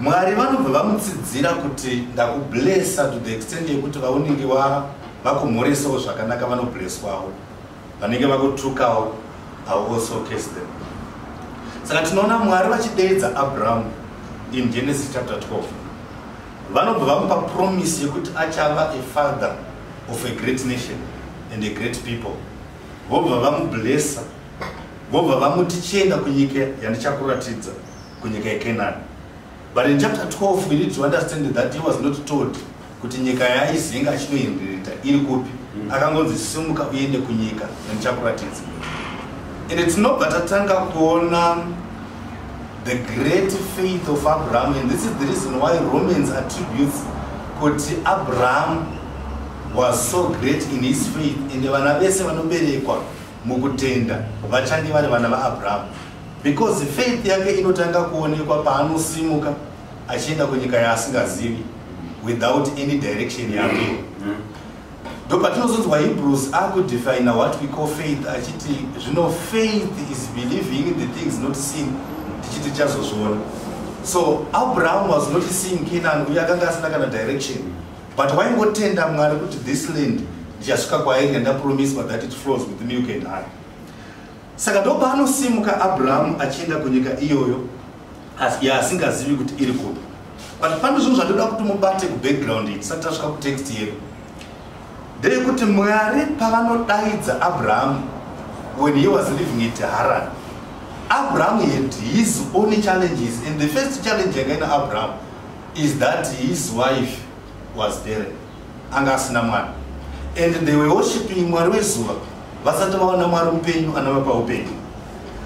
Mwari vanobva vamutsidzira kuti ndakublessa to the extent yekuti vaunenge vakumhoresawo zvakanaka vanoblesswawo vanenge vakutukawo au also case them saka tinoona mwari vachideedza abrahamu in genesis chapter 12 vanobva vamupa promise yekuti achava a father of a great nation and a great people vobva vamublessa vobva vamuti chienda kunyika yandichakuratidza kunyika yekenani but in chapter 12 we need to understand that he was not told kuti nyika yaizinga achinoindirita iri kupi mm. akangonzi simuka uende kunyika yandichakuratidza and tinobva tatanga kuona the great faith of abraham and this is the reason why romans attributes kuti abraham was so great in his faith ende vana vese vanoberekwa mukutenda vachange vari vana vaabrahamu Because faith yake inotanga kuonekwa paanosimuka achienda kunyika yaasingazivi without any direction yake. Ndopatinozonzwa Hebrews akudefina what we call faith achiti zvino faith is believing in the things not seen tichiti tichazozviona. So Abraham was not seeing Canaan uye akanga asina kana direction but waingotenda Mwari kuti this land ndichasvika kwainge ndapromiswa that it flows with milk and honey. Saka ndopaanosimuka Abrahamu achienda kunyika iyoyo yaasingazivi kuti iri kupi. But pane zvinhu zvandoda kuti mubate kubackground iyi tisati tasvika kutext yedu. Ndeyekuti Mwari pavanodaidza Abrahamu when he was living in Haran, Abrahamu had his own challenges and the first challenge yakaina Abrahamu is that his wife was barren. anga asina mwana and they were worshiping mwari wezuva vasati vaona mwari mupenyu anovapa upenyu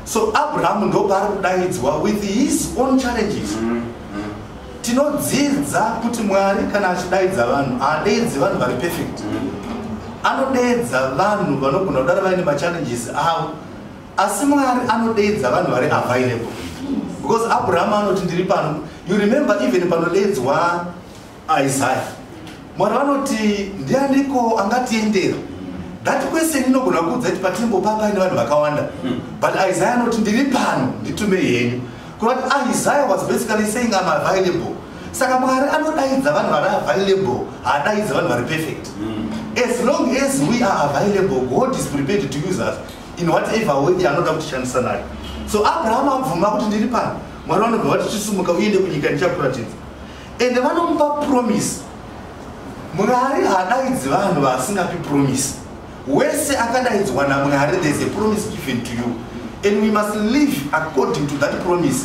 so abrahamu ndopaari kudaidzwa with his own challenges mm -hmm. tinodzidza kuti mwari kana achidaidza vanhu haadeedzi vanhu vari perfect mm -hmm. anodeedza vanhu vanogona kudara vaine machallenges avo asi mwari anodeedza vanhu vari available because abrahamu anoti ndiri pano you remember even panodeedzwa Isaya mwari vanoti ndianiko angatiendera that question inogona kuudza kuti patembo papa ine vanhu vakawanda hmm. but isaya anoti ndiri pano nditume henyu kunoti isaya was basically saying am available saka mwari anodaidza vanhu vari available haadaidza vanhu vari perfect hmm. as long as we are available god is prepared to use us in whatever way anoda kutishandisa nayo so abraham abvuma kuti ndiri pano mwari vanobva vati chisumuka uende kunyika ndichakuratidza ende vanomupa promise mwari haadaidzi vanhu vaasingapi promise wese akadaidzwa namwari there's a promise given to you and we must live according to that promise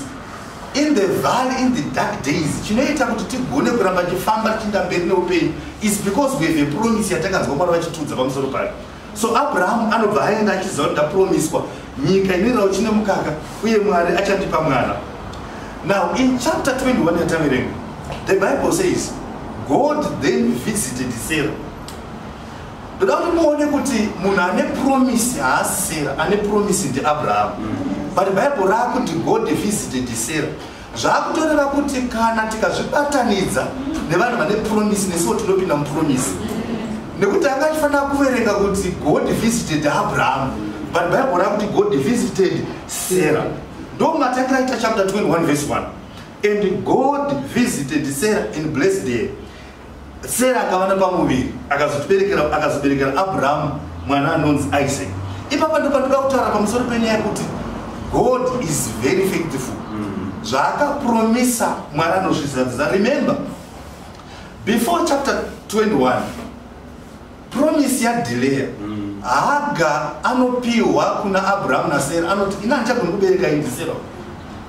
in the valley in the dark days chinoita kuti tigone kuramba tichifamba tichiinda mberi neupenyu is because we have a promise yatakanzwa mwari vachitiudza pamusoro payo So Abraham anobva aenda achiziva kuti ndapromiswa nyika ine rauchi nemukaka uye Mwari achandipa mwana. Now in chapter 21 yataverenga, the Bible says God then visited Sarah. Ndoda kuti muone kuti munhu ane promise haasi Sarah, ane promise ndiAbraham. Mm. But Bible rakuti God visited Sarah. zvakutoreva kuti kana tikazvibatanidza nevanhu vane promisi nesiwo tinopinda mupromisi nekuti anga achifanira kuverenga kuti god visited abraham but bible ra kuti god visited sarah ndo matangira ita chapter 21 vese 1 and god visited sarah and blessed her sera akava nepamuviri akazotiberekera akazoberekera abrahamu mwana anonzi isaac ipapa ndopatoda kutaura pamusoro penyaya yekuti god is very faithful mm. zvaakapromisa mwari anozvizadzisa remember before chapter 21 promise yadhileya mm. haga anopihwa kuna abrahamu nasera anoti ina andichagoni kubereka indisera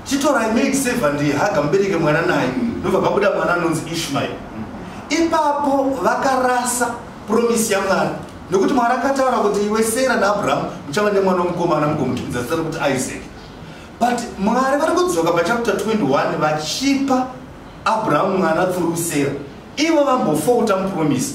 chitorai maid seva ndihaga mubereke mwana naye mm. ndobva pabuda mwana anonzi ishmael mm. ipapo vakarasa promise yamwari nekuti mwari akataura kuti iwe sera naabrahamu muchava nemwana womukomana mugomutumidza zita rekuti isaac but mwari vari kudzoka pachapter 21 vachipa abrahamu mwana through sera ivo vambofouta mupromisi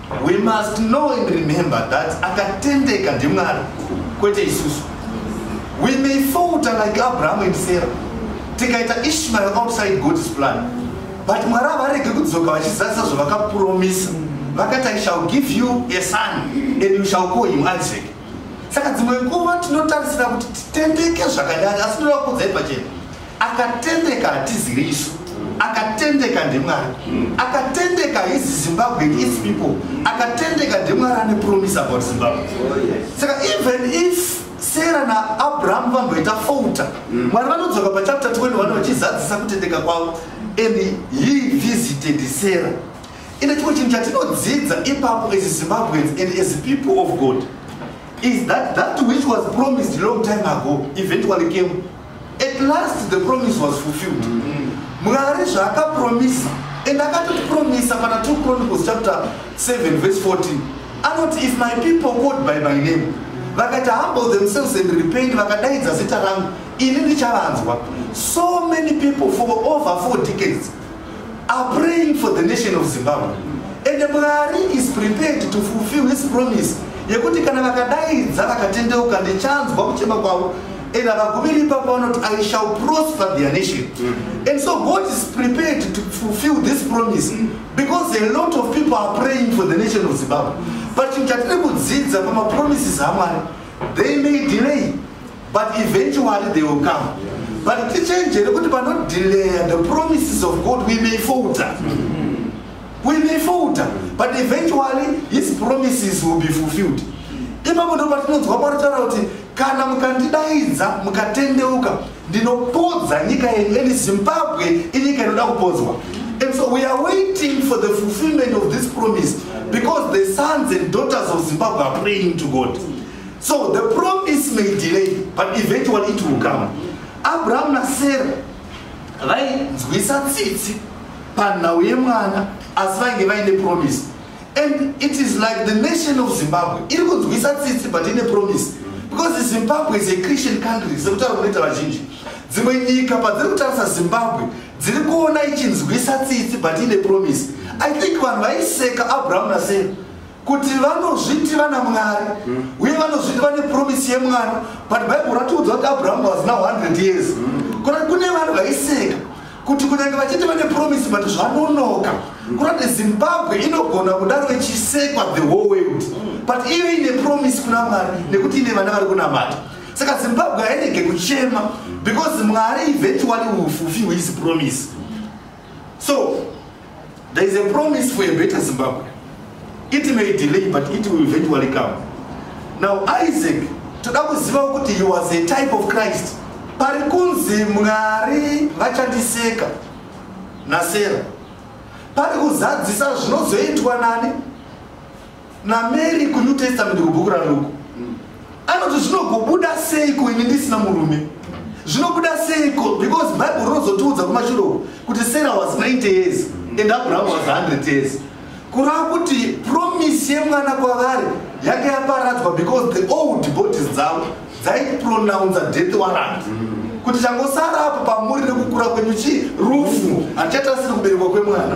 We must know and remember that akatendeka ndimwari kwete isusu. We may falter like Abraham and Sarah. Tikaita Ishmael outside God's plan. But mwari havarege kudzoka vachizadzisa zvavakapromisa. Vakati I shall give you a son and you shall call him Isaac. Saka dzimwe nguva tinotarisira kuti titendeke zvakadai asi tinoda kuudzai pachena. akatendeka hatiziri isu akatendeka ndemwari akatendeka his zimbabwe is people akatendeka ndemwari ane promise about zimbabwe saka even if sera naabrahamu vamboita fouta mwari vanodzoka pachapter 20 vano vachizadzisa kutendeka kwavo and he visited sera ende chimwe chinhu chatinodzidza ipapo as zimbabweans and as people of god is that that which was promised long time ago eventually came at last the promise was fulfilled mm. mwari zvaakapromisa and akatotipromisa pana 2 chronicles chapter 7 verse 14 anoti if my people called by my name vakaita humble themselves and repent vakadaidza zita rangu ini ndichavanzwa so many people for over four decades are praying for the nation of zimbabwe and mwari is prepared to fulfill his promise yekuti kana vakadaidza vakatendeuka ndichanzwa kuchema kwavo and havagumiri ipapo vanoti i shall prosper their nation mm. and so god is prepared to fulfill this promise mm. because a lot of people are praying for the nation of zimbabwe but chinhu chatiri kudzidza pamapromises amwari they may delay but eventually they will come but tichenjere kuti panodelaya the promises of god we may folter we may folter but eventually his promises will be fulfilled ipapo ndo patinonzwa mwari taura kuti kana mukandidaidza mukatendeuka ndinopodza nyika yenyu and zimbabwe inyika inoda kupodzwa and so we are waiting for the fulfillment of this promise because the sons and daughters of zimbabwe are praying to god so the promise may delay but eventually it will come abrahamu nasera vainzwisa tsitsi panhau yemwana asi vainge vaine promise and it is like the nation of zimbabwe iri kunzwisa tsitsi but ine promise because zimbabwe is a christian country sekutaura kunoita vazhinji dzimwe nyika padziri kutarisa zimbabwe dziri kuona ichinzwisa tsitsi but ine promise i think vanhu vaiseka abrahamu nasera kuti vanozviti vana mwari mm. uye vanozviti vane promisi yemwana but bible ratiudza kuti abraham was now 100 years mm. kona kune vanhu vaiseka kuti kunyange vachiti vane promisi but zvanonoka mm. kona kuti zimbabwe inogona kudaro ichisekwa the whole world mm. but iyo ine promisi kuna mwari nekuti ine vana vari kunamata saka zimbabwe hairege kuchema because mwari eventually ufufi hwisi promisi so there is a promise for a better zimbabwe it may delay but it will eventually come now isaac toda kuziva kuti he was a type of christ pari kunzi mwari vachandiseka nasera pari kuzadzisa zvinozoitwa nani namary kunew testament kubhuku raluku mm. anoti zvinogobuda seiko ini ndisina murume zvinobuda seiko because bible rinozotiudza kumashuroko kuti sarah was 90 years and abraham was 100 years kurava kuti promise yemwana kwavari yake yaparadzwa because the old bodies dzavo dzaipronounce death warrant kuti changosara apo pamuri nekukura kwenyu chii rufu handichatasiri kuberekwa kwemwana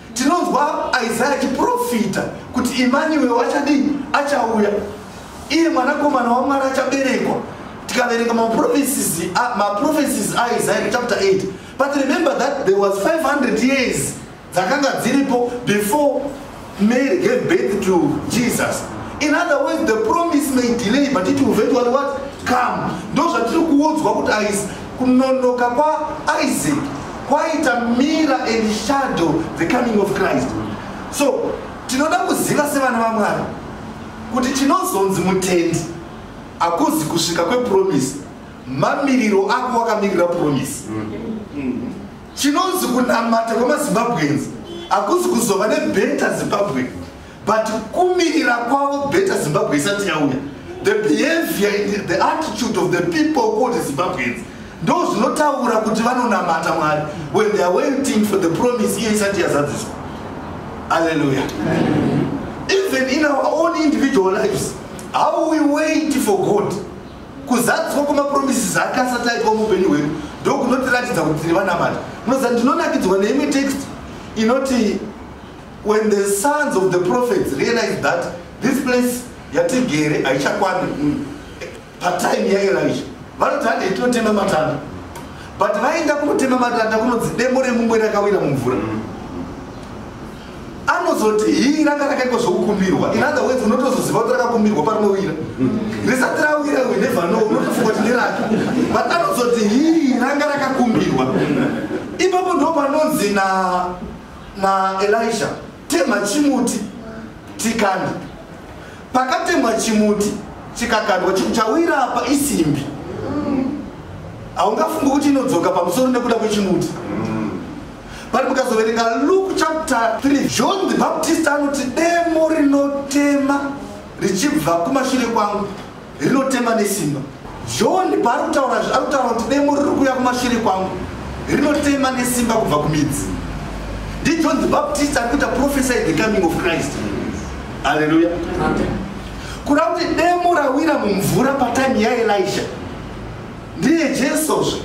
tinonzwa isaya achiprofita kuti imaniwe wachadii achauya iye mwanakomana wamwari achaberekwa tikaverenga maprofesis aisaya chapter 8 but remember that there was 500 years dzakanga dziripo before mary gave birth to jesus in other words the promise may delay but it will eventually what come ndozvatiri kuudzwa kuti ais kunonoka kwaisaac kwaita mira and shadow the coming of christ so tinoda kuziva sevana vamwari kuti chinozonzi mutendi akuzi kusvika kwepromisi mamiriro ako wakamirira promisi chinonzi kunamata kwemazimbabwenzi akuzi kuzova nebeta zimbabwe but kumirira kwavo better zimbabwe isati yauya the behavior the attitude of the people called zimbabweans ndo zvinotaura kuti vanonamata mwari when they are waiting for the promise iye isati yazadziswa alleluya even in our own individual lives how we wait for god kuzadziswa kwemapromises ake asati aitwa muupenyu hwedu ndokunotiratidza kuti tiri vanamata munoziva ndinonakidzwa neimwe text inoti When the sons of the prophets realized that this place yatigere haichakwani mm, patime yaElisha vanoti hande itinotema matanda but vaenda kunotema matanda kunonzi demo remumwe rakawira mumvura anozoti hii ranga rakaitwa zvokukumbirwa in other words unotozoziva kuti rakakumbirwa parinowira risati rawira we never know unotofunga kuti ndirake but anozoti hii ranga rakakumbirwa ipapo ndo panonzi na naelija temha chimuti tikande pakatemwa chimuti chikakandwa chawira apa isimbi haungafungi kuti inodzoka pamusoro nekuda kwechimuti vari mukazoverenga luke chapter 3 john the baptist anoti demo rinotema richibva kumashure kwangu rinotema nesimba john paari kutaura zve ari kutaura kuti demo riri kuuya kumashure kwangu rinotema nesimba kubva kumidzi ndijohn the baptist ari kuita profesor the coming of christ halleluya kuda kuti demo rawira mumvura patime yaelisha ndiye jesozve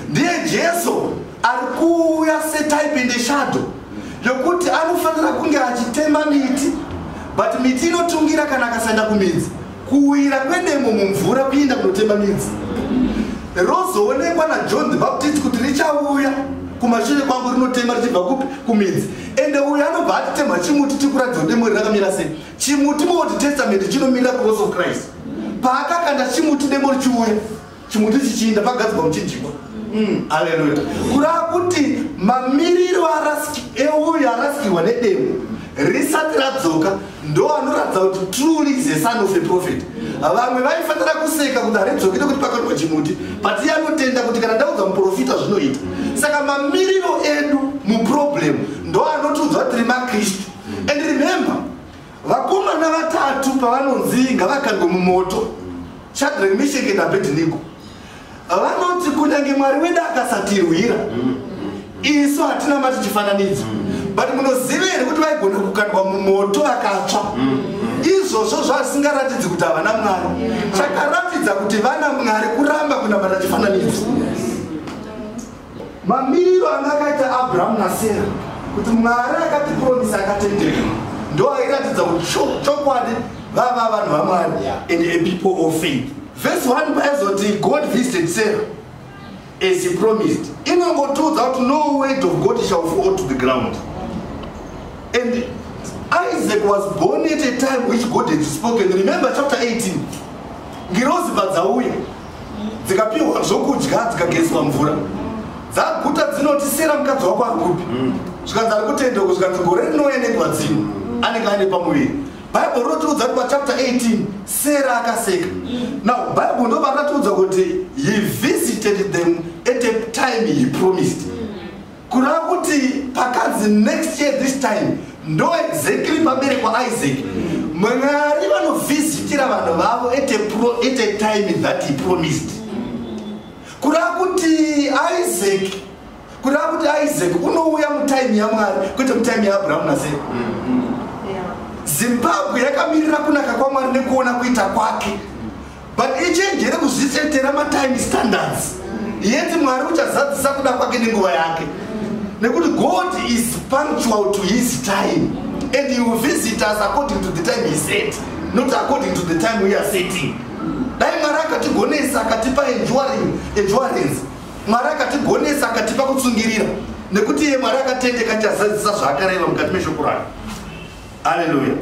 ndiye jesu ari kuuya setype in the shadow yokuti anofanira kunge achitema miti but miti inotungira kana akasaenda kumidzi kuwira kwedemo mumvura kuenda kunotema midzi rozoonekwa najohn the baptist kuti richauya kumashure kwangu rinotema richibva kupi kumidzi ende uyo anobva atitemha chimuti tikuratidza kuti demo rirakamira sei chimuti muold testament chinomirira cross of christ paakakanda chimuti demo richiuya chimuti chichiinda pagadzirwa muchinjikwa mm, aleluya kurava kuti mamiriro euyo arasikirwa nedemo risati radzoka ndo anoratidza kuti truly is a son of a prophet vamwe vaifanira kuseka kuti haridzoki nekuti pakaitwa chimuti but iye anotenda kuti kana ndaudza muprofita zvinoita saka mamiriro edu muproblem ndo anotiudza tiri makristu and remember vakomana vatatu pavanonzi ngavakandwe mumoto shadrack misheke nabedinigo vanoti kunyange mwari wedu akasatirwira isu hatina mati chifananidzo but munoziva here kuti vaigona kukandwa mumoto vakatsva izvozvo zvasingaratidzi kuti havana mwari chakaratidza kuti vana mwari kuramba kunamata chifananidzo mamiriro anga akaita abrahamu nasera kuti mwari akatipromisa akatendeka ndo airatidza kuti chokwadi vava vanhu vamwari and a people of faith vese one paizoti god visited sarah as he promised inongotiudza kuti no word of god shall fall to the ground and isaac was born at a time which god had spoken remember chapter 18 ngirozi padzauya dzikapiwa zvokudya dzikagezwa mvura dzaguta dzinoti sera mukadzi wako ari kupi mm. zvikanzi ari kutenda uko zvikanzi gore rinouya nenguva dzino mm. anenge aine pamuviri bhaibheri rinotiudza kuti pachapter 18 sera akaseka mm. now bhaibheri ndo varakatiudza kuti he visited them at a time he promised kureva kuti pakanzi next year this time ndo exactly paberekwa isaac mwari vanovhizitira vanhu vavo at a time that he promised kureva kuti isaac kureva kuti isaac unouya mutime yamwari kwete mutime yaabrahamu nasera zimbabwe yakamirira kunaka kwamwari nekuona kuita kwake but ichenjere kuzvisetera matime standards yeti mwari uchazadzisa kuda kwake nenguva yake nekuti god is punctual to his time and he will visit us according to the time he set not according to the time we are setting dai mwari akatigonesa akatipa enjuarance mwari akatigonesa akatipa kutsungirira nekuti iye mwari akatendeka chazadzisa zvaakareva mukati meshoko rake aleluya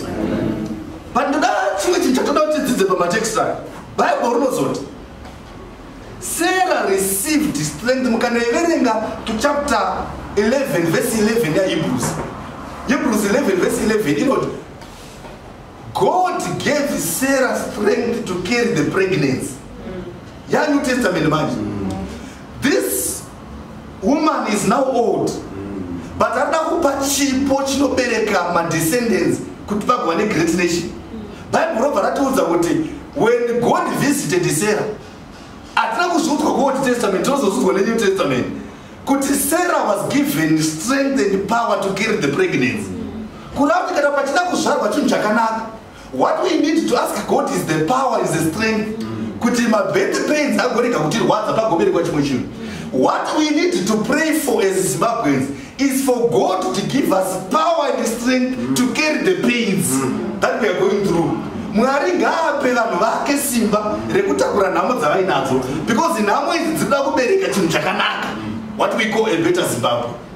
but ndoda chimwe chinhu chatoda kuti tidzidze pamatext ayo bible rinozoti sarah received strength mukanoiverenga to chapter 11 vese 11 yahebrews hebrews 11 vese 11 inoti god gave sarah strength to carry the pregnancy yanew testament manje woman is now old but arida kupa chipo chinobereka madescendants kuti vagova negreat nation bible robva ratiudza kuti when god visited sarah hatina kuzviudzwa kuold testament tinozozviudzwa nenew testament kuti sarah was given strength and power to carry the pregnancy kurava tikata pachida kuzvarwa chinhu chakanaka What we need to ask God is the power is the strength kuti mabirth pains agorega kutirwadza pagoberekwa chimwe chinhu what we need to pray for as zimbabweans is for god to give us power and strength mm. to carry the pains mm. that weare going through mwari ngaape vanhu vake simba rekutakura nhamo dzavainadzo because nhamo idzi dzinoda kubereka chinhu chakanaka what we call a better zimbabwe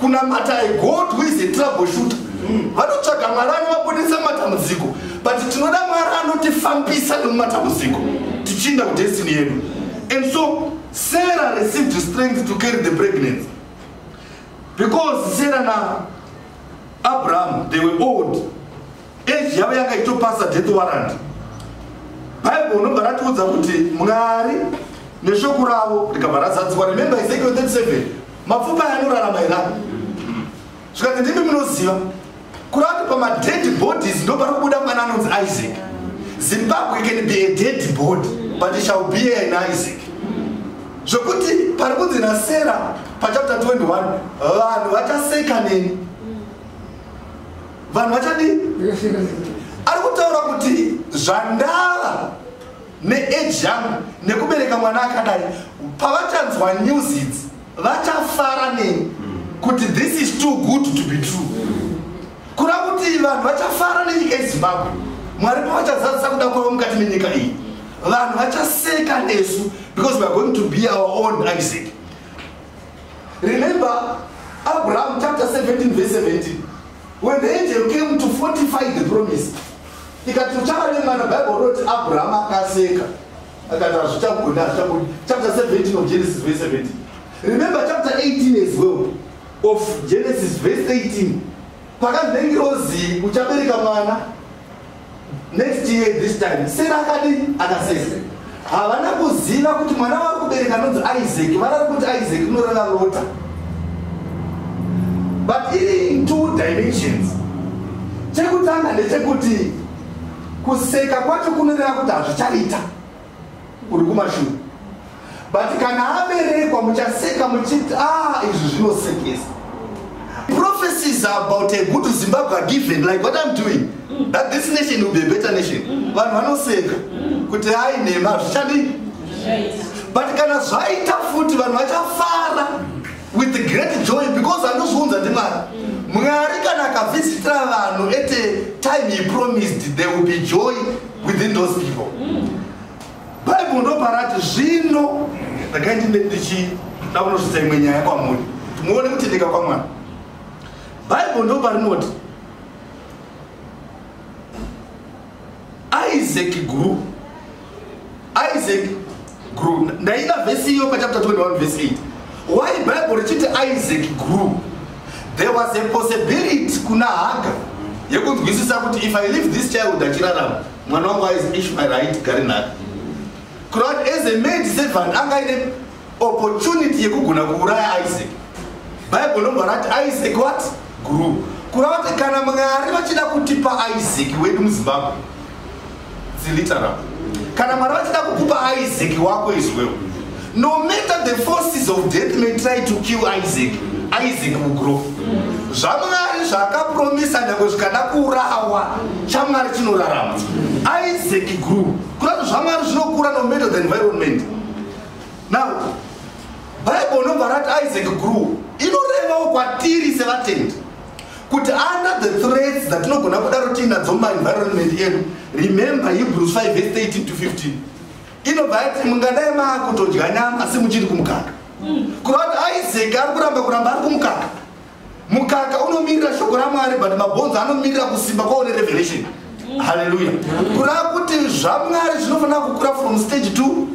kunamata i god who is a trouble shooter mm. vanotsvaga mm. mwari anovabudisa matambudziko but tinoda mwari anotifambisa nemumatambudziko tichiinda kudestiny yedu and so sarah received strength to carry the pregnancy because sarah na abraham they were old age yavo yanga ichitopasa death warrant bible unobva ratiudza kuti mwari neshoko ravo rikabva razadzikwa remember ezekiel 37 mapfupa yanorarama here zvikanzi ndimi munoziva kurava kuti pamadead bodies ndo pari kubuda mwana anonzi isaac zimbabwe can be a dead body but it shall be an isaac zvokuti pari kunzi nasera pachapter 21 vanhu vachaseka neni vanhu vachadii ari kutaura kuti zvandava neage yangu nekubereka mwana akadai pavachanzwa news idzi vachafara neni kuti this is too good to be true kura kuti vanhu vachafara nenyika yezimbabwe mwari pavachazadzisa kuda kwavo mukati menyika iyi vanhu vachaseka nesu because weare going to be our own isaac Remember Abraham chapter 17 verse 17 when the angel came to fortify the promise ikati uchava nemwana bible roti abraham akaseka akati hazvichagona hazvichagona chapter 17 of genesis verse 17 remember chapter 18 as well of genesis verse 18 pakanzi nengirozi uchabereka mwana next year this time sera akadi akasese havana kuziva kuti mwana wari kubereka anonzi isaac varari kuti isaac rinoreva lota but iri in two dimensions chekutanga ndechekuti kuseka kwacho kunoreva kuti hazvichaita uri kumashure but kana aberekwa muchaseka muchiti ah izvi zvinosekesa prophecies about a good zimbabwe are given like what i'm doing that this nation will be a better nation vanhu vanoseka kuti ai nhema zvichadii but kana zvaita futi vanhu vachafara with great joy because anozviunza ndimwari mwari kana akavhisitira vanhu at time he promised there will be joy within those people bible ndoparati zvino ndakai ndine ndichida kunosvitsa imwe nyaya kwamuri muone kutendeka kwamwana bible ndoparinoti isaac grew isaac grew ndaida vhesi iyo pachapter 21 vhesi 8 why bible richiti isaac grew there was a possibility kuna haga yekunzwisisa kuti if i leave this child achirarama mwana wangu aizi ishmael aiti gari nhaka kurat as a maid servant anga ine opportunity yekugona kuuraya isaac bible lobva rati isaac what grew kurava kuti kana mwari vachida kutipa isaac wedu muzimbabwe kana mwari vachida kukupa isaac wako izwewo no matter the forces of death may try to kill isaac isaac will grow zvamwari zvaakapromisa nyange zvikada kurawa chamwari chinorarama isaac grew kurati zvamwari zvinokura no matter the environment now bible unobva rati isaac grew inorevawo kwatiri sevatendi kuti under the threats dzatinogona kudaro tiinadzo mumaenvironment edu remember hebrews 5 vese 18 to 15 inobva yati mungadai maakutodya nyama asi muchiri kumukaka mm. kureva kuti isaac ari kuramba kuramba ari kumukaka mukaka unomirira shoko ramwari but mabhonzo anomirira kusimba kwawo nerevelation mm. haleluya mm. kureva kuti zvamwari zvinofanira kukura from stage to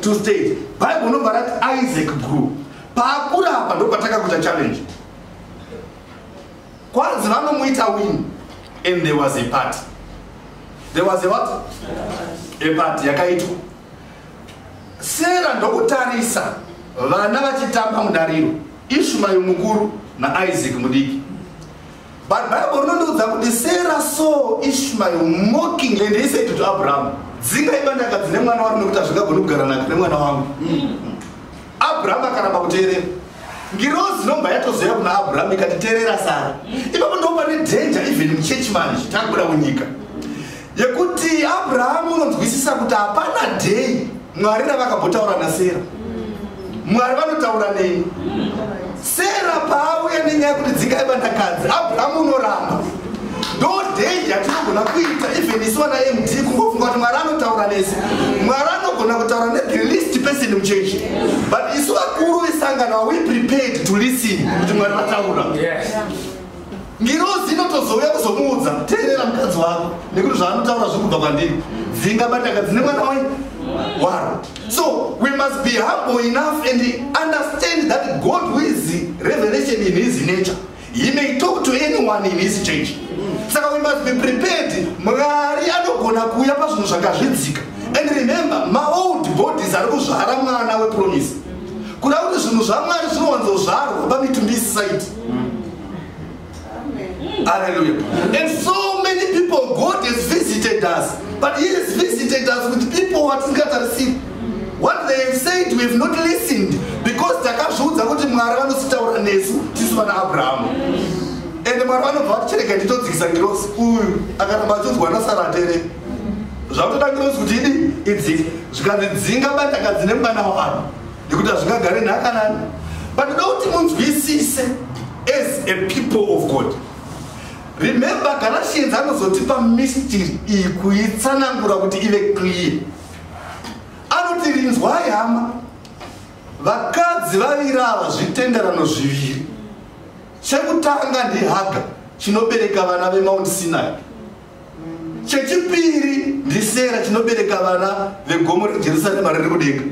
to stage bible unobva rati isaac grew paakura apa ndopataka kuita challenge kwanzi vanomuita win and there was a party there was a what a party yakaitwa sera ndokutarisa vana vachitamba mudariro ishmael mukuru naisaac mudiki but bible rinondiudza kuti sera so ishmael mocking and he said to abraham dzinga ibandaka dzine mwana wari nekuti hazvingagoni kugara nake nemwana wangu mm. abrahamu akaramba kuteerera ngirozi inobva yatozoya kuna abrahamu ikati teerera sara ipapo ndopa nedhenja even muchechi manje takuda kunyika yekuti abrahamu unonzwisisa kuti hapana dheyi mwari ravakabotaura nasera mwari vanotaura neni sera paauya nenyaya kuti dzingai vandakadzi abrahamu unoramba ndo dei yatinogona kuita even isu vana md kungofunga kuti mwari anotaura nesu mwari anogona kutaura nethe least person muchechi but isu vakuru vesangano are we prepared to listen kuti mwari vataura yes. ngirozi inotozouya kuzomuudza teerera mukadzi wako nekuti zvaanotaura zviri kubva kwandiri dzinga bataka dzine mwana wai waro so we must be humble enough and understand that god who is revelation in his nature he may talk to anyone in his church saka we must be prepared mwari anogona kuuya pazvinhu zvakazvidzika and remember maold bodies ari kuzvara mwana wepromise kuda kuti zvinhu zvamwari zvinowanzozvarwa pamitumbi isisaiti Hallelujah. And so many people, God has visited us, but He has visited us with people who are scattered What they have said, we have not listened because takazviudza kuti mwari vanositaura nesu tisu vana abrahamu and mwari vanobva vatichereka nditodzikisa ngirosi uyu akaramba achiudzwa nasaratere zvakutoda ngirosi kuti idi idzike zvikanzi dzinga bandaka dzine mwana wavanhu nekuti hazvingagare nhaka nani but ndoda kuti munzwisise as a people of god remember galatians anozotipa mystery iyi kuitsanangura kuti ive clear anoti rinzwai hama vakadzi vaviri ava zvitenderano zviviri chekutanga ndihaga chinobereka vana vemount sinai chechipiri ndisera chinobereka vana vegomo rejerusarema riri kudenga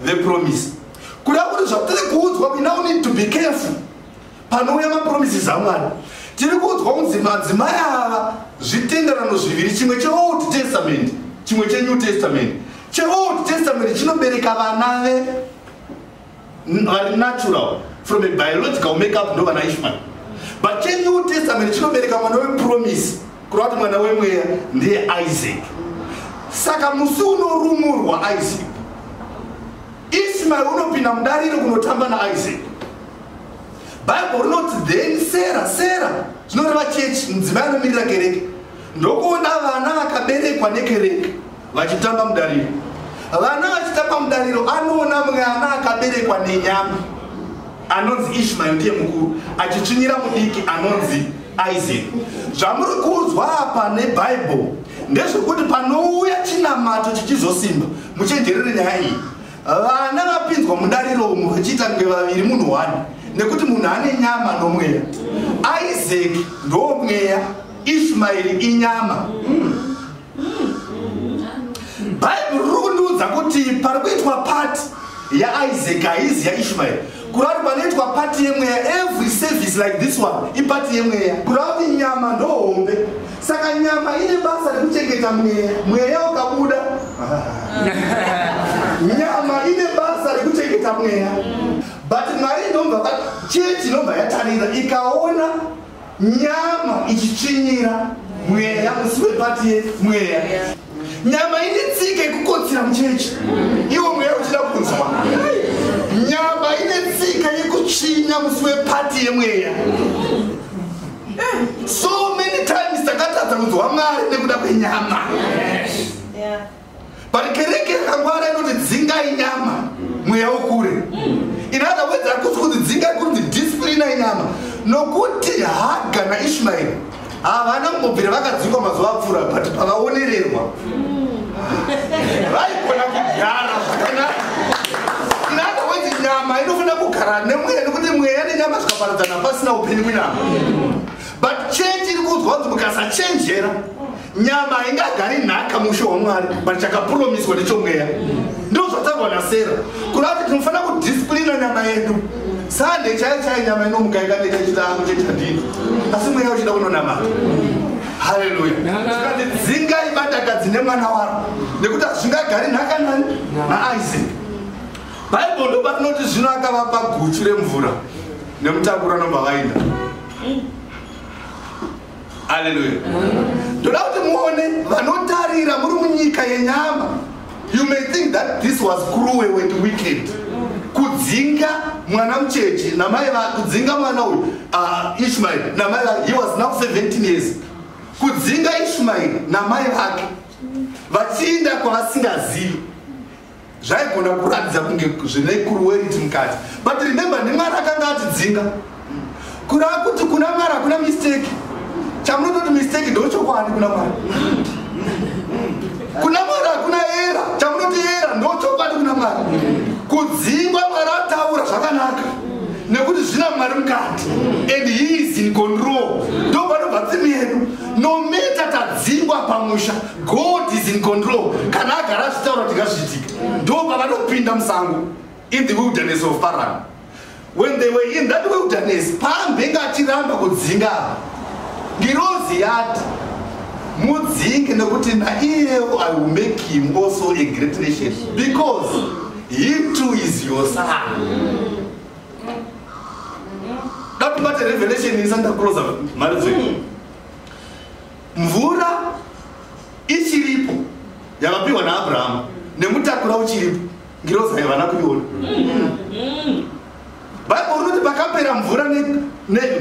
vepromisi kuda kuti zvatiri kuudzwa we now need to be careful panouya mapromises amwari tiri kuudzwa kunzi madzimai ava zvitenderano zviviri chimwe cheold testament chimwe chenew testament cheold testament chinobereka vana ve vari natural from a biological makeup ndo vana ishmael but chenew testament chinobereka mwana wepromise kureva kuti mwana wemweya ndiye isaac saka musi unorumurwa isaac ishmael unopinda mudariro kunotamba naisaac bible rinoti then sera sera zvinoreva chechi mudzimai anomirira kereke ndokuona vana vakaberekwa nekereke vachitamba mudariro vana vachitamba mudariro anoona mwana akaberekwa nenyama anonzi ishmael ndiye mukuru achitsvinyira mudiki anonzi isaac zvamuri kuudzwa apa nebhaibheri ndezvekuti panouya chinamato chichizosimba muchenjerere nyaya iyi vana vapinzwa mudariro umu vachiita nge vaviri munhu one nekuti munhu ane nyama nomweya isaac ndomweya ishmaeri inyama mm. bhaibheri riri kundiudza kuti pari kuitwa pati yaisaac haizi yaishmaeri kureva kuti panoitwa pati yemweya every service like this one ipati yemweya kureva kuti nyama ndohombe saka nyama ine basa rekuchengeta mweya mweya ukabuda nyama ine basa rekuchengeta mweya but mwari inobva chechi inobva yatarira ikaona nyama ichitsvinyira mweya musi wepatiye mweya nyama ine tsika yekukotsira muchechi iwo mweya uchida kunzwa nyama ine tsika yekutsvinya musi wepati yemweya so many times takatadza kunzwa mwari nekuda kwenyama but kereke yakangwara inoti dzingai nyama mweya ukure in other words hakusi kuti dzingai kunzi disciplina inyama nokuti haga naishmaeri havana kumbobvira vakadzikwa mazuva apfuura but pavaonererwa vaigona kugara zvakanaka in other words nyama inofanira kugara nemweya nekuti mweya nenyama zvikaparadzana pasina upenyu munyama but change iri kuudzwa kuti mukasachenjera nyama haingagari nhaka mushe wamwari but chakapuromiswa nechomweya ndo zvataurwa nasera kuda kuti tinofanira kudisiplina nyama yedu sande chaiyo chaiyo nyama inomuka ikaneta chitango chetandino asi mweya uchida kunonamata haleluya zvikati dzinga ibadaka dzine mwana waro nekuti hazvingagari nhaka nani naisaac bhaibheri ndo patinoti zvino akavapa guchu remvura nemutakura nomba vainda aleluya ndoda kuti muone vanotarira muri munyika yenyama you may think that this was cruel and wicked kudzinga mwana mucheche namai kudzinga mwana uyu ah, ishmael namai he was now 17 years kudzinga ishmael namai vake vachiinda kwavasingazivi zvaigona kuratidza kunge zvine kuruweriti mukati but remember nemwari akanga atidzinga kura kuti kuna mwari hakuna mistake chamunototi mistake ndochokwadi kuna mwari kuna mwari hakuna era chamunoti era ndochokwadi kuna mwari kudzingwa mwari ataura zvakanaka nekuti zvina mwari mukati and he is in control ndopanobva tsimi yedu nometa tadzingwa pamusha god is in control kana agara zvitaura kuti ngazviitike ndo pavanopinda musango in the wilderness of paran when they were in that wilderness paambenge achiramba kudzinga apa ngirozi yati mudzinge nekuti naiyewo i will make him also a great nation because he too is your son datibate revelation isanda closer mharidzo mvura ichiripo yakapiwa naabrahamu nemutakura uchiripo ngirozi haivana kuiona bhaibheri rinoti pakapera mvura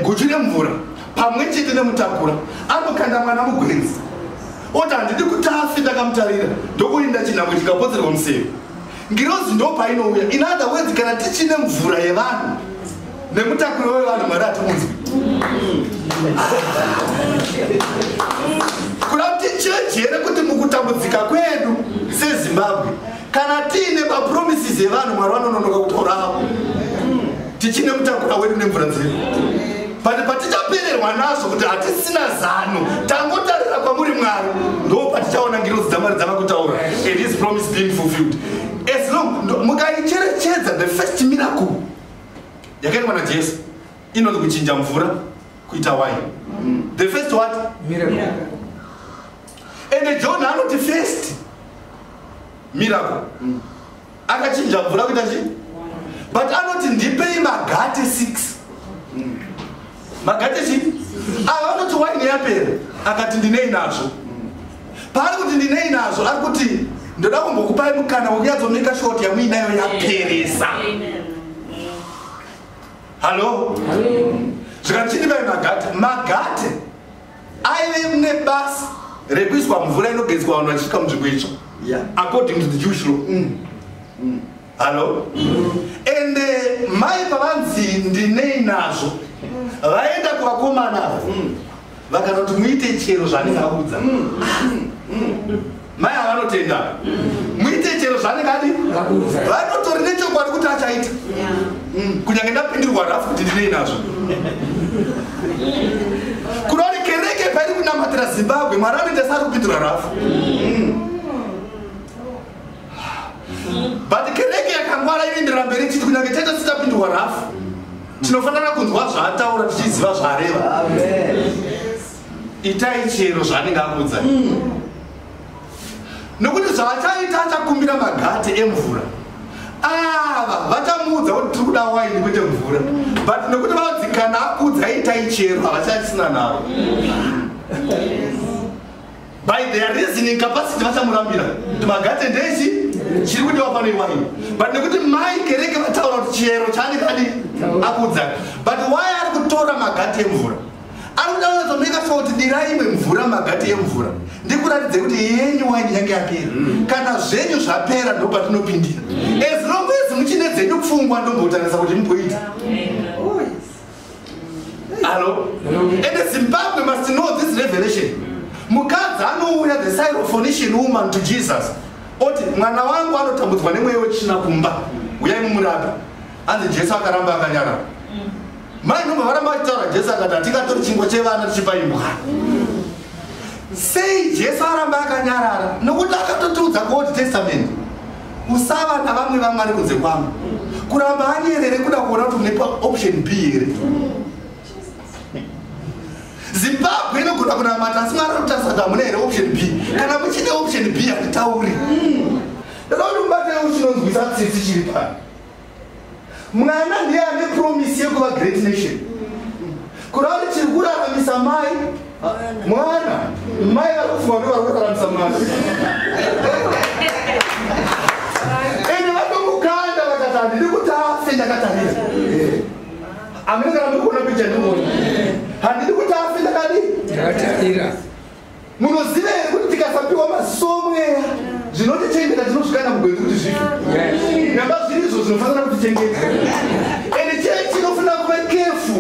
guchu remvura pamwe chete nemutakura anokanda mwana mugwenzi oti handidi kuti afe ndakamutarira ndokuinda chinhambwe chikapodzerwa museve ngirozi ndopainouya inada wedzi kana tichine mvura yevanhu nemutakuri wevanhu mwari atimunzwi kuda kuti chechi here kuti mukutambudzika kwedu sezimbabwe kana tiine mapromises evanhu mwari vanononoka kutoravo tichine mutakura wedu nemvura dzedu but patichapererwa nazvo kuti hatisina zano tangotarira kwamuri mwari ndo patichaona ngirozi dzamwari dzava kutaura and his promise being fulfilled as long mukaicherechedza the first miracle yakaitwa najesu inonzi kuchinja mvura kuita wine mm. the first what miracle yeah. and john anoti first miracle mm. akachinja mvura kuita chi but anoti ndipei magate six mm. magate chii ava vanoti waini yapera akati ndinei nazvo paari kuti ndinei nazvo ari kuti ndoda kumbokupai mukana wekunyatsomaker short yamuinayo yaperesa hallo zvikachini vai magate magate aive nebasa rekuiswa mvura inogezwa vanhu vachisvika munzvimbo itsva according to the jewish law mm. Mm. hallo ende mai pavanzi ndinei nazvo vaenda kuvakomana ava vakanoti muite chero zvanenge audza mai ava vanotenda muite chero zvanenge adi vanotori nechokwadi kuti achaita mm, kunyange ndapindirwa rafu kuti ndinei nazvo kunori kereke pairi kunamatira zimbabwe mwari anoita sari kupindura rafu mm. but kereke yakangwara inoenderera mberi ichiti kunyange taita sitapindurwa rafu tinofanira kunzwa zvaataura tichiziva zvaareva itai chero zvaanenge akuudza nokuti zvaachaita achakumbira magate emvura ava vachamuudza kuti tiri kuda waini kwete mvura but nokuti vanzi kana akuudza itai chero havachachisina navo by their reasoning capacity vachamurambira kuti magate ndeichi chiri kudiwa pano iwani but nekuti mai kereke vataura kuti chiyero chaani kadi akudza but why ari kutora magate emvura ari kuda kunyatsomaker sure kuti dirai imwe mvura magate emvura ndikuratidze kuti yenyu waini yange yapera mm. kana zvenyu zvapera ndopatinopindira as long as muchine dzenyu pfungwa ndombotarisa kuti muboita Hello? Hello? And the Zimbabwe must know this revelation. Mukadzi anouya the Syrophoenician woman to Jesus. Oti mwana wangu anotambudzwa nemweya wechina kumba. Uyai mumurapi. Anzi Jesu akaramba akanyara. Mai nomba varamba vachitaura Jesu akati hatingatori chingwa chevana tichipa imbwa. Sei Jesu aramba akanyarara? Nokuti akatotiudza kuOld Testament. kusava navamwe vamwari kunze kwangu kuramba anyerere kuda kuona kuti unepa option b here zimbabwe inogona kunamata asi mwari anotarisa kuti hamuna here option b kana muchine option b handitauri ndinoda kuti mubatewo chinonzwisa tsitsi chiri pano mwana ndiye ane promise yekuva great nation kurari chiri kuraramisa mai mwana mai vari kufunga kuti vari kuraramisa mwana ende vatomukanda vakati handidi kuti afe ndakatarira amene kana ndikuona picha ndiona handidi kuti afe ndakadii ndakatarira munoziva here kuti tikasapiwa maziso omweya zvinotichengeta tinozvikana mugwenzi kuti zvifi namba zviri izvo zvinofanira kutichengeta ende chee chinofanira kuva kefu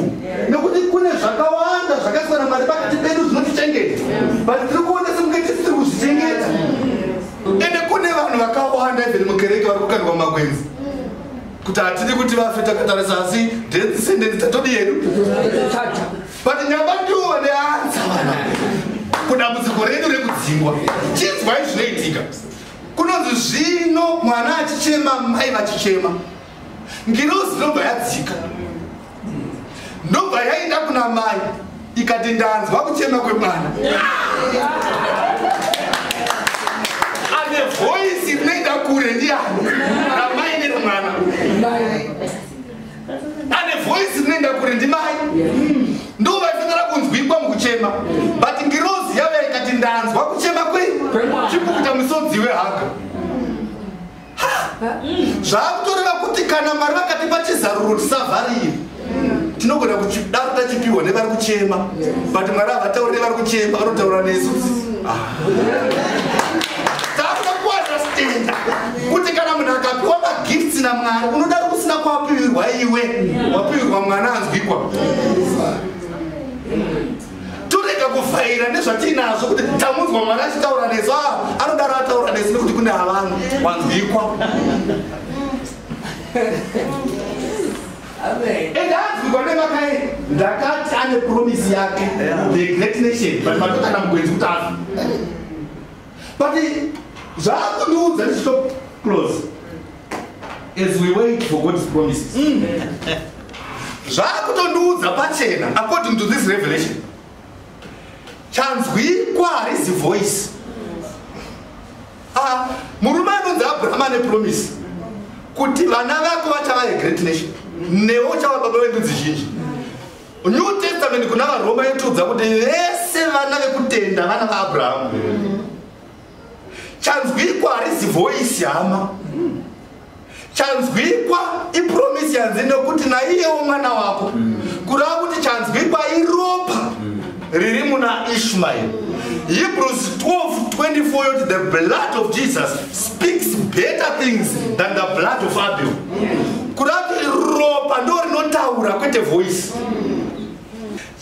nekuti kune zvakawanda zvakasiyana mwari pakati pedu zvinotichengeta but tiri kuona semuke tisi tiri kuzvichengeta ende kune vanhu vakawanda even mukereke vari kukandwa magwenzi kuti hatidi kuti vafe takatarisa asi death sentence tatodi yedu but nyamba ndiwo vane anza vana kudambudziko redu rekudzingwa chinzwai zvinoitika kunonzi zvino mwana achichema mai vachichema ngirozi ndobva yadzika ndobva yaenda kuna mai ikati ndanzwa kuchema kwemwana ane voisi rinoenda kure ndiani ramai neremwana ane voice rinoenda kure ndimai ndo vaifanira kunzwikwa mukuchema but ngirozi yave ikati ndanzwa kuchema kwei chipukuta musodzi wehaka zvaakutoreva kuti kana mwari vakati pachizaruro tisavharire tinogona kudaro tachipihwa nevari kuchema but mwari havatauri nevari kuchema vanotaura nesu ah. takuda kuunderstanda kuti kana munhu akapiwa magifts namwari unodaro kusina kwapiwirwa iwe wapiwirwa mwana anzwikwa torega kuvhaira nezvatiinazvo kuti tamunzwa mwana achitaura nesu a ah, anodaro ataura nesu nekuti kune havanhu wanzwikwa endaanzwikwa nemakai ndakati ane promisi yake the great nation but matokana mugwenzi kuti afi but zvaakundiudza ndichito close as we wait for god's promises mm. zvaakutondiudza pachena according to this revelation chanzwikwa harizi voice ah, murume anonzi abrahama nepromise kuti vana vako vachava yegreat nation newe uchava baba vendudzi zhinji New Testament kuna vaRoma yotudza kuti vese vana vekutenda vana vaAbraham. Chanzwikwa harisi voice hama. Chanzwikwa ipromise yanzi nokuti naiyewo mwana wako. Kurava kuti chanzwikwa iropa. riri muna ishmael hebrews 12:24 yoti the blood of jesus speaks better things than the blood of abel kurati ropa ndo rinotaura kwete voice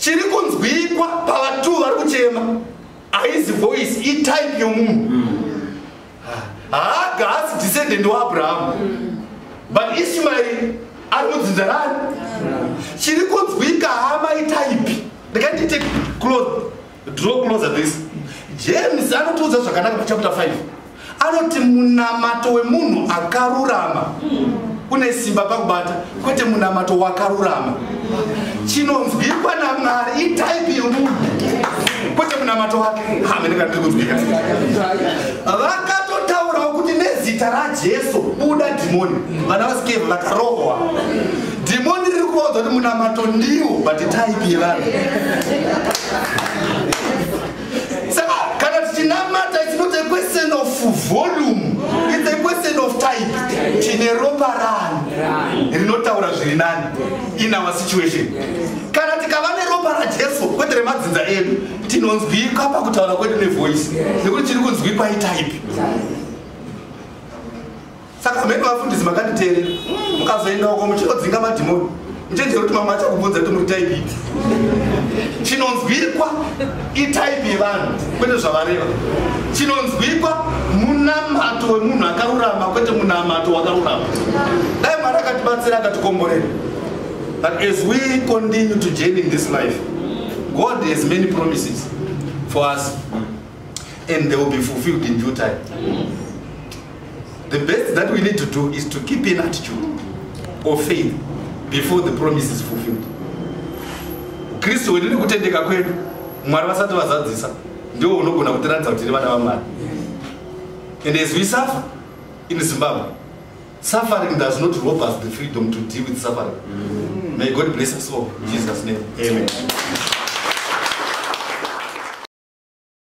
chiri kunzwikwa pavatu vari kuchema haizi voice itype yomunhu mm. haaga haasi descendant waabrahamu but ishumaeri ari mudzinza rani chiri kunzwika hama itaipi ndikanditake close draw closer this james anotiudza zvakanaka pachapter 5 anoti munamato wemunhu akarurama une simba pakubata kwete munamato wakarurama chinonzwikwa namwari itaipi yomunhu kwete munamato wake hamenekandiri kunzwika vakatotaurawo kuti nezita rajesu buda dhimoni vana vasikevhi vakarohwa dhimoni riri kuvaudza kuti munamato ndiwo but itaipi yevanhu saka kana tichinamata it's not a question of volume it's a question of type tine ropa rani rinotaura zviri nani in our situation kana tikava neropa rajesu kwete remadzinza edu tinonzwikwa pakutaura kwedu nevoice nekuti tiri kunzwikwa itype saka mheni vafundisi makanditeerera mukazoenda uko muchinodzinga madhimoni muchenjero kuti mamwe achakubvunza kuti muri type ipi chinonzwikwa itype yevanhu kwete zvavareva chinonzwikwa munamato wemunhu akarurama kwete munamato wakarurama dai mwari akatibatsira akatikomborera but as we continue to journey in this life god has many promises for us and they will be fulfilled in due time The best that we need to do is to keep an attitude of faith before the promise is fulfilled. Kristu wedu nekutendeka kwedu Mwari vasati vazadzisa ndiwo unogona kutiratidza kuti tiri vana vaMwari. And as we suffer in Zimbabwe, suffering does not rob us the freedom to deal with suffering. Mm. May God bless us all. In Jesus' name. Amen. Amen.